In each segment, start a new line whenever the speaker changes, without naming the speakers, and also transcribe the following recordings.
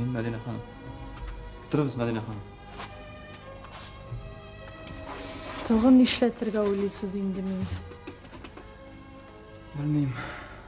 Мин Мәдинә ханым. Торыгыз, Мәдинә ханым. Тагын нишләтергә уйлыйсыз инде мине? Белмим.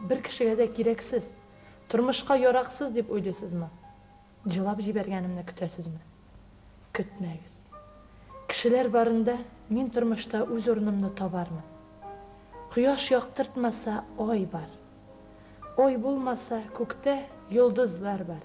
Бер кешегә дә кирәксез, тормышка яраксыз дип уйлыйсызмы? Җылап җибәргәнемне көтәсезме? Көтмәгез. Кешеләр барында мин тормышта үз урынымны табармын. Кояш яктыртмаса, ай бар. Ай булмаса, күктә йолдызлар бар.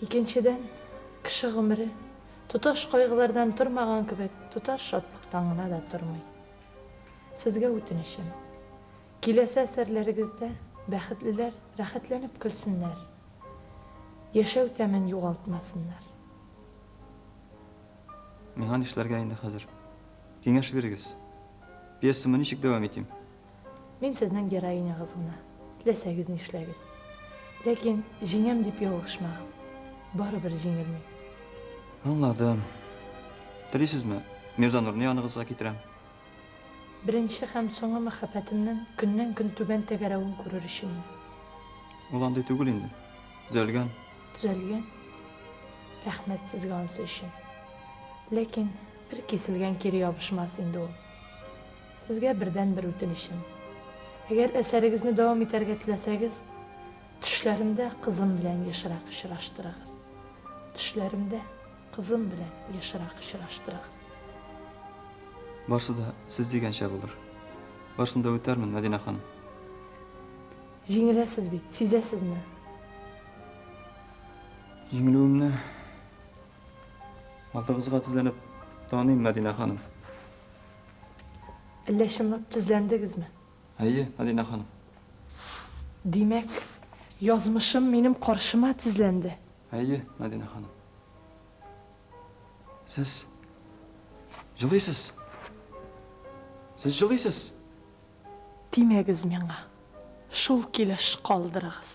Икенчедән, кеше гомере, тоташ кайгылардан тормаган кебек, тоташ шатлыктан гына да тормый. Сезгә үтенечем, киләсе әсәрләрегездә бәхетлеләр рәхәтләнеп көлсеннәр, яшәү тәмен югалтмасыннар. Миңа нишләргә инде хәзер? Киңәш бирегез. Пьесамы ничек дәвам итим? Мин сезнең героинягыз гына, теләсәгез нишләгез. Ләкин җиңәм дип ялгышмагыз. Барыбер җиңелми. Аңладым. Телисезме, Мирзанурны яныгызга китерәм? Беренче һәм соңгы мәхәббәтемнең көннән-көн түбән тәгәрәвен күрер өчен иде. Ул андый түгел инде. Төзәлгән. Төзәлгән? Рәхмәт сезгә ансы өчен. Ләкин бер киселгән кире ябышмас инде ул. Сезгә бердән бер үтенечем. Әгәр әсәрегезне дәвам итәргә теләсәгез, төшләремдә кызым белән ешрак очраштырыгыз. Төшләремдә кызым белән ешрак очраштырыгыз. Барсы да сез дигәнчә булыр. Барсын да үтәрмен, Мәдинә ханым. Җиңеләсез бит, сизәсезме? Җиңелүемне Алдыгызга тезләнеп таныйм, Мәдинә ханым. Әллә чынлап тезләндегезме? Әйе, Мәдинә ханым. Димәк, язмышым минем каршыма тезләнде. Әйе, Мәдинә ханым. Сез җылыйсыз. Сез җылыйсыз. Тимәгез миңа. Шул килеш калдырыгыз.